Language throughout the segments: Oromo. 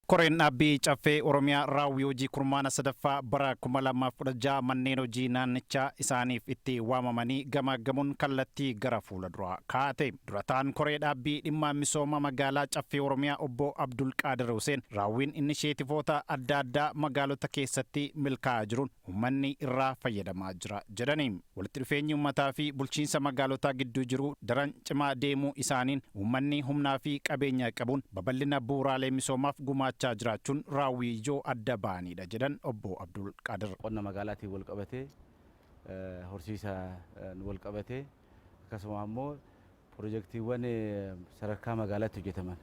Koreen Dhaabbii Caffee Oromiyaa raawwii hojii kurmaana 3ffaa bara 2016 manneen hojii naannichaa isaaniif itti waamamanii gamaaggamuun kallattii gara fuula duraa kaa'ate. Dura ta'aan Koree Dhaabbii Dhimma Misooma Magaalaa Caffee Oromiyaa Obbo Abdulqaadir Huseen raawwiin inisheetivoota adda addaa magaalota keessatti milkaa'aa jiruun ummanni irraa fayyadamaa jira jedhani. Walitti dhufeenyi ummataa fi bulchiinsa magaalotaa gidduu jiru daran cimaa deemuu isaaniin ummanni humnaa fi qabeenya qabuun babal'ina bu'uuraalee misoomaaf gumaachaa jiraachuun raawwii ijoo adda ba'aniidha jedhan Obbo Abdulqaadir. Qonna magaalaatiin walqabatee, horsiisaan walqabatee akkasuma ammoo Pirojektiiwwan sadarkaa magaalaatti hojjetaman,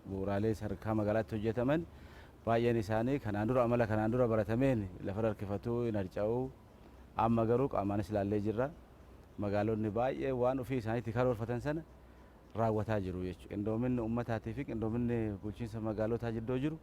bu'uuraalee sadarkaa magaalaatti hojjetaman baay'een isaanii kanaan dura amala kanaan dura baratameen lafarra harkifatu, hin harca'u. Amma garuu qaamaanis ilaallee jirra. Magaalonni baay'een waan ofii isaaniitti karoorfatan sana raawwataa jiru jechuudha. Qindoominni uummataatii fi qindoominni bulchiinsa magaalotaa jidduu jiru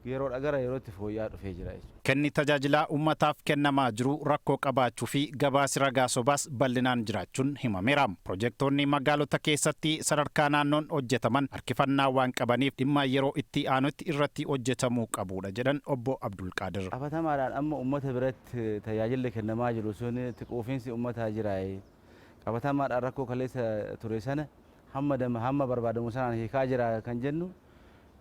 yeroodha gara yerootti fooyya'aa dhufee jira jechuudha. Kenni tajaajilaa ummataaf kennamaa jiru rakkoo qabaachuu fi gabaasi ragaa sobaas bal'inaan jiraachuun himameera. Pirojektoonni magaalota keessatti sadarkaa naannoon hojjetaman harkifannaa waan qabaniif dhimma yeroo itti aanutti irratti hojjetamuu qabuudha jedhan Obbo Abdulqaadir. Qabatamaadhaan amma ummata biratti tajaajilli kennamaa jiru sun itti quufinsi ummataa jiraayi? Qabatamaadhaan rakkoo kaleessa ture sana hamma barbaadamu sanaan hiikaa jiraa kan jennu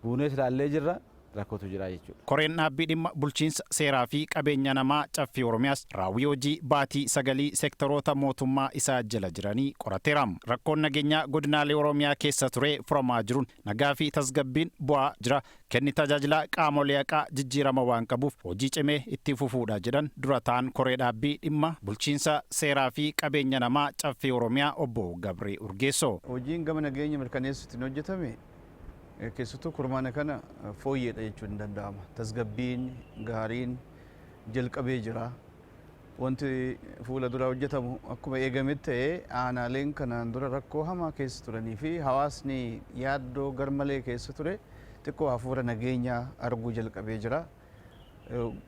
buunees ilaallee jirra rakkootu jira jechuudha. Koreen Dhaabbii Dhimma Bulchiinsa, Seeraa fi Qabeenya Namaa Caffee Oromiyaas raawwii hojii baatii sagalii sektaroota mootummaa isa jala jiranii qorateera. Rakkoon nageenyaa godinaalee Oromiyaa keessa ture furamaa jiruun nagaa fi tasgabbiin bu'aa jira, kenni tajaajilaa qaamolee haqaa jijjiirama waan qabuuf hojii cimee itti fufuudha jedhan Dura Taa'aan Koree Dhaabbii Dhimma Bulchiinsa, Seeraa fi Qabeenya Namaa Caffee Oromiyaa Obbo Gabree Urgeessoo. Hojiin gama nageenya mirkaneessuutiin hojjetame Keessattuu kurmaana kana fooyyeedha jechuun ni danda'ama. Tasgabbiin gaariin jalqabee jira. Wanti fuula duraa hojjetamu akkuma eegametti ta'ee aanaaleen kanaan dura rakkoo hamaa keessa turanii fi hawaasni yaaddoo garmalee keessa ture xiqqoo hafuura nageenyaa arguu jalqabee jira.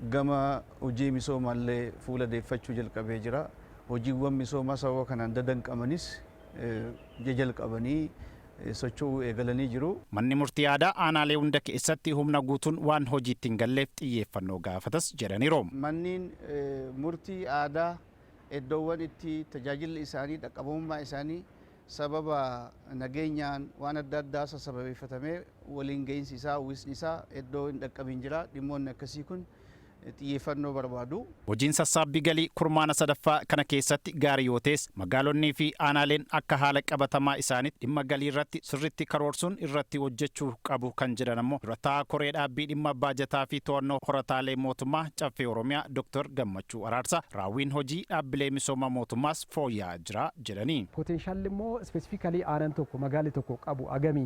gama hojii misoomaallee fuula deeffachuu jalqabee jira. Hojiiwwan misoomaa sababa kanaan dadanqamanis jajalqabanii socho'uu eegalanii jiru. Manni Murtii Aadaa aanaalee hunda keessatti humna guutuun waan hojiitti hin galleef xiyyeeffannoo gaafatas jedhaniiru. Manniin Murtii Aadaa eddoowwan itti tajaajilli isaanii dhaqqabamummaa isaanii sababa nageenyaan waan adda addaasa sababeeffatamee waliin ga'iinsi isaa, uwwisni isaa eddoo hin dhaqqabiin jira. Dhimmoonni akkasii kun xiyyeeffannoo barbaadu. Hojiin sassaabbii galii kurmaana sadaffaa kana keessatti gaarii yoo ta'es, magaalonnii fi aanaaleen akka haala qabatamaa isaaniitti dhimma galii irratti sirriitti karoorsuun irratti hojjechuu qabu kan jedhan ammoo Dura Taa'aa Koree Dhaabbii Dhimma Baajataa fi To'annoo Horataalee Mootummaa Caffee Oromiyaa Doktar Gammachuu Araarsaa, raawwiin hojii dhaabbilee misooma mootummaas, fooyya'aa jira jedhani. Potential immoo specifically aanan tokko, magaalli tokko qabu agami,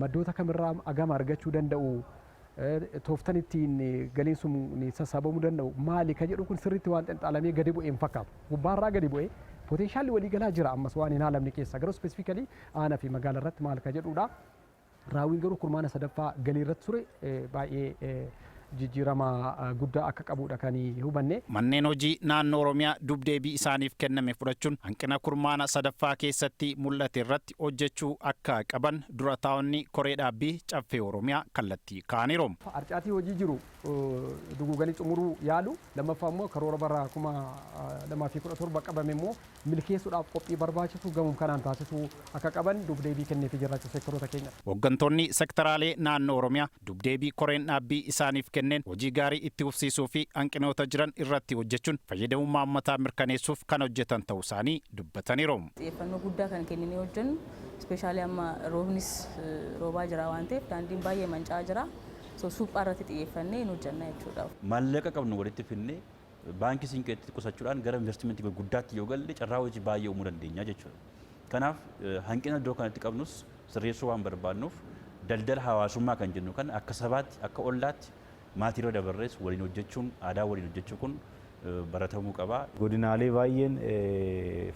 maddoota kamirraa agama argachuu danda'u, tooftan ittiin galiin sun sassaabamu danda'u maali ka jedhu kun sirriitti waan xinxaalamee gadi bu'e hin fakkaatu. Gubbaarraa gadi bu'e potential waliigalaa jira ammas waan hin haalamne keessa garuu specifically aana fi magaala irratti maal ka jedhuudha. Raawwiin garuu kurmaana sadaffaa galii irratti ture baay'ee jijjiirama guddaa akka qabuudha kan hubanne. Manneen hojii naannoo Oromiyaa dub-deebii isaaniif kenname fudhachuun hanqina kurmaana sadaffaa keessatti mul'ate irratti hojjechuu akka qaban Dura Taa'onni Koree Dhaabbii Caffee Oromiyaa kallattii kaa'aniiru. Harcaatii hojii jiru duguuganii xumuruu yaaluu, lammaffaa immoo karoora bara 2017 qabame immoo milkeessuudhaaf qophii barbaachisu gamum kanaan taasisuu akka qaban duub-deebii kenneefii jirra jechuun seektaroota keenyaf. Hooggantoonni sektaraalee naannoo Oromiyaa duub-deebii koreen dhaabbii isaaniif kenneen hojii gaarii itti fufsiisuu fi hanqinoota jiran irratti hojjechuun fayyadamummaa ummataa mirkaneessuuf kan hojjetan ta'uu isaanii dubbataniiru. Xiyyeeffannoo guddaa kan kenninee hojjennu especially amma roobnis roobaa jira waan ta'eef daandiin baay'ee manca'aa jira. So suphaa irratti xiyyeeffannee hin hojjenna jechuudha. Maallaqa qabnu walitti fidnee Baankii Siinqeetti qusachuudhaan gara investimentii gurguddaatti yoo galle carraa hojii baay'ee uumuu dandeenya jechuudha. Kanaaf hanqina iddoo kanatti qabnus sirreessuu waan barbaadnuuf daldala hawaasummaa kan jennu kana akka sabaatti, akka ollaatti maatiirra dabarrees waliin hojjechuun aadaan waliin hojjechuu kun baratamuu qaba. Godinaalee baay'een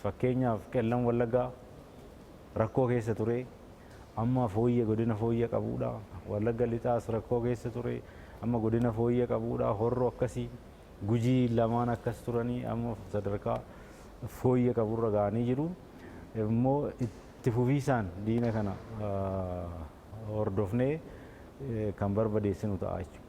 fakkeenyaaf Qellam Wallaggaa rakkoo keessa ture. Amma fooyya godina fooyya qabuudha. Wallagga lixaas rakkoo keessa ture. Amma godina fooyya qabuudha. Horro akkasi. Gujii lamaan akkas turanii amma sadarkaa fooyya qaburra ga'anii jiru. Immoo itti fufiisaan diina kana hordofnee kan barbadeessinu ta'a jechuudha.